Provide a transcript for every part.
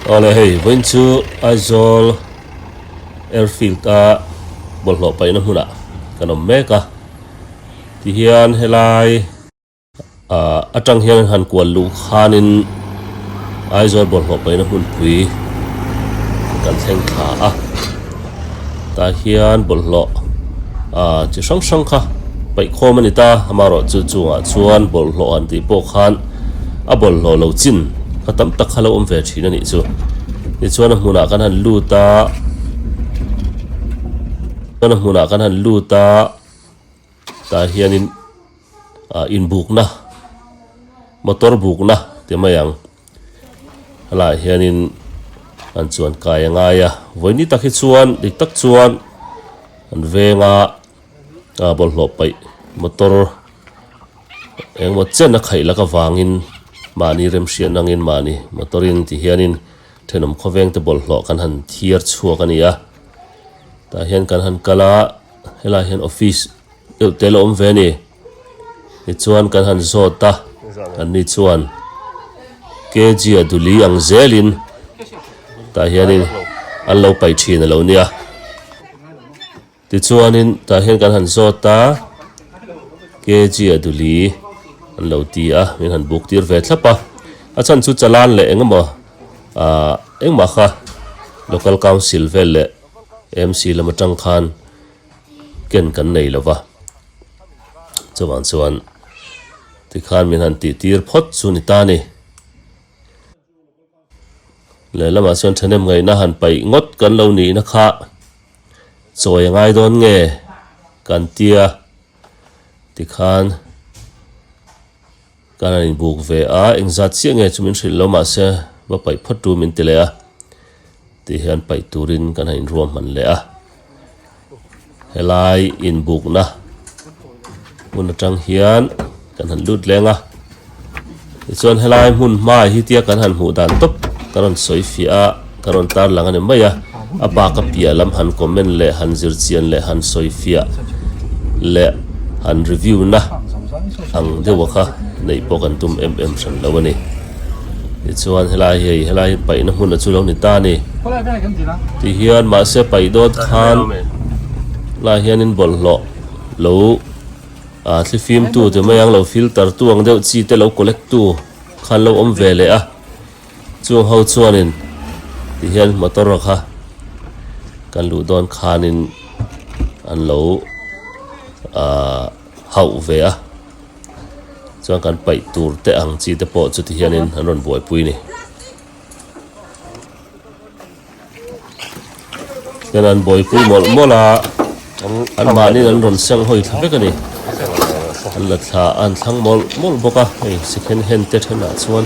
Awle hei vawiin chu Aizawl airfield a bawlhhlawh paihna hmunah kan awm mek a tihian helai-- A tang hian han kual luh khanin Aizawl bawlhhlawh paihna hmunpui kan thleng thla a. Tah hian bawlhhlawh chi hrang hrang kha paih khawm a ni ta, amarawh chu chungah chuan bawlhhlawh an tih pawh khan a bawlhhlawh lo chin kha tam tak kha lo awm ve thin a nih chu. Tichuan a hmunah kan han lut a, a hmunah kan han lut a. Tah hianin ah inbukna motor bukna te mai ang a lah hianin an chuan kai a ngai a vawi ni tak hi chuan dik tak chuan an venga ah bawlhhlawh paih motor engemaw chen a khaih laka vangin mahni remhriatna angin mahni motor in ti hianin thenawm khawvengte bawlhhlawh kan han thiar chhuak a ni a tah hian kan han kal a. helai hian office deuh te la awm ve a ni tichuan kan han zawt a an ni chuan kg a duli ang zel in tah hian in an lo paih thin a lo nia tichuan in tah hian kan han zawt a kg a duli an lo ti a min han buk tir ve thlap a a chhan chu chalan leh engemaw a engmah kha local council vel leh MC lam atang khan ken kan nei lo va, chuvang chuan tikhan min han tih tir phawt chu ni ta ni. Lehlamah chuan thanem ngaihna han paih ngawt kan lo nihna kha chawi a ngai dawn nge kan tia tikhan. Ka rawn inbuk ve a, eng zat chiah nge chu min hrilh lo mahse va paih phawt chu min ti leh a, tih hian paih turin kan han inruahman leh a. Helai inbukna hmun atang hian kan han lut leng a, tichuan helai hmun hmaah hitia kan han hmuh dan tawp ka rawn sawi fiah a. Ka rawn tarlang a ni mai a, a pa ka piah lam han comment leh han zirchian leh han sawifiah leh han review na ang deuha kha neih pawh kan tum em em hran lo a ni. Tichuan helai hi hei, helai hi paihna hmuna chu lo ni ta a ni. Ti hian mahse paih dawn khan lai hianin bawlhhlawh lo thlifimtu te mai ang, lo filter tu ang deuh, chi te lo collect tu khan lo awm ve leh a. Chu ho chuanin ti hian motor a kha kan luh dawn khanin an lo hauh ve a, chuan kan paih tur te ang chi te pawh chuti hianin an rawn buaipui a ni. Chuan an bawipui mawlh mawlh a, an mahniin an rawn seng hawi thla vek a ni. An la thla a, an thlang mawlh mawlh bawk a, hei second hand te thenah chuan.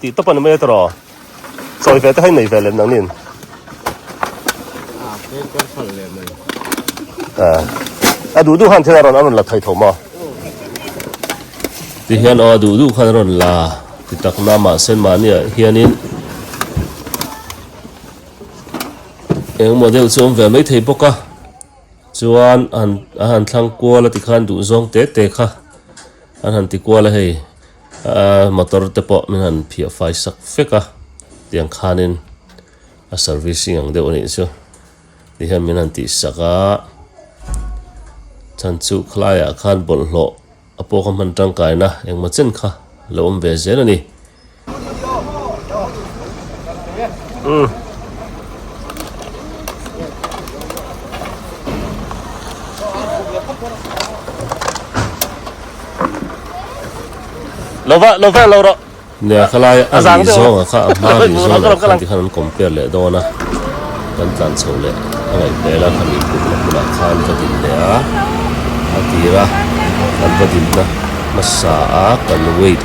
Tih tawpan a meter aw. Sawi ve te hi nei ve lem nang nin. A duh duh han thil a rawn a rawn la thei tho maw? Ti hian aw a duh duh khan a rawn la ti tak na mahse mahni ah hianin eng maw deuh chu awm ve mai thei bawk a. Chuan an a han thlang kual a ti khan duh zawng tê tê kha an han ti kual a hei. Aa motor te pawh min han phiah fai sak fek a, tiang khanin a servicing ang deuh a nih chu ti hian min han tih sak a, chhan chu khlaiah khan bawlhhlawh a pawh kha hman tangkaina engmaw chen kha lo awm ve zel a ni. Lo va, lo va lo rawh. Nè kha lai a ri zawng a kha a hma ri zawng lo kha tikhan an compare leh dawn a. Kan tlan chhoh leh a ngaihmel a khami putna hmunah khan va din leh a a tir a. Kan va dinna hmasa a kan wait.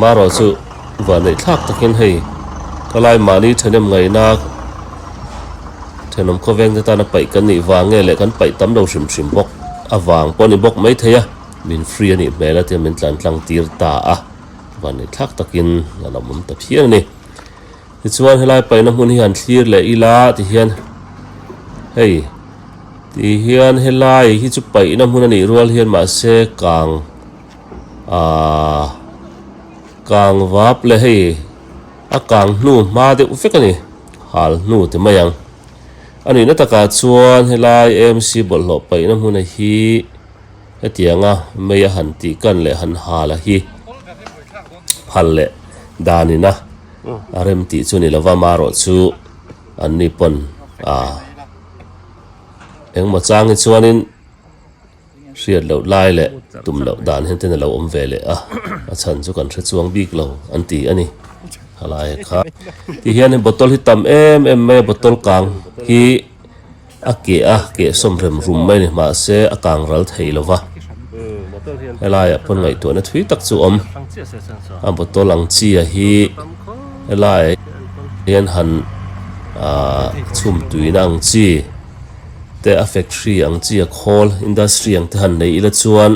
Maro chu vannei thlak takin hei ka lai mahni thahnem ngaihna thahnawm khawveng te tan a paih kan nih vang nge leh kan paih tam lo hrim hrim bawk avang pawh a ni bawk maithei a min free anih hmel a tia min tlan tlang tir ta a vannei thlak takin a lo awm ta phian a ni tichuan helai paihna hmun hi han thlir leh ila tihian hei tihian helai hi chu paihna hmun anih rual hian mahse kang Aaa kang vap le hei a kang hnu hma deuh vek a ni, hal hnu ti mai ang. A nihna takah chuan helai AMC bawlhhlawh paihna hmuna hi hetianga mei a han tih kan leh han hal a hi phal leh danina a rem tih chu a ni lo va, marawh chu an ni pawn a. Engmaw chang hi chuanin. hriat loh lai leh tum loh dan hian ten a lo awm ve leh a, a chhan chu kan hre chuang bik lo an ti a ni. A lai ah kha ti hian hei bottle hi tam em em mai a, bottle kang hi a keh a, keh sawm rem rum mai a ni mahse a kang ral thei lo va, he lai ah pawn ngaihtuah na thui tak chu a awm a, bottle ang chi a hi he lai ah hian han chhum tui na ang chi. te a factory ang chi a khawl industry ang te han nei ila chuan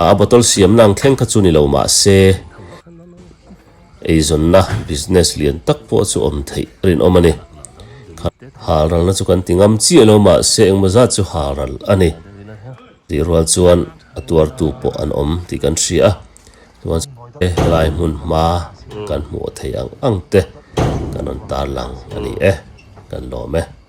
a a bottle siamna ang thleng kha chu ni lo mahse eizawnna business lian tak pawh chu awm theih a rinawm a ni. Halralna chu kan ti ngam chiah lo mahse engmaw zat chu halral a ni tih rual chuan a tuartu pawh an awm tih kan hria a, chuan sawti helai hmun hma kan hmuh theih ang ang te kan rawn tarlang a ni e kan lawm e.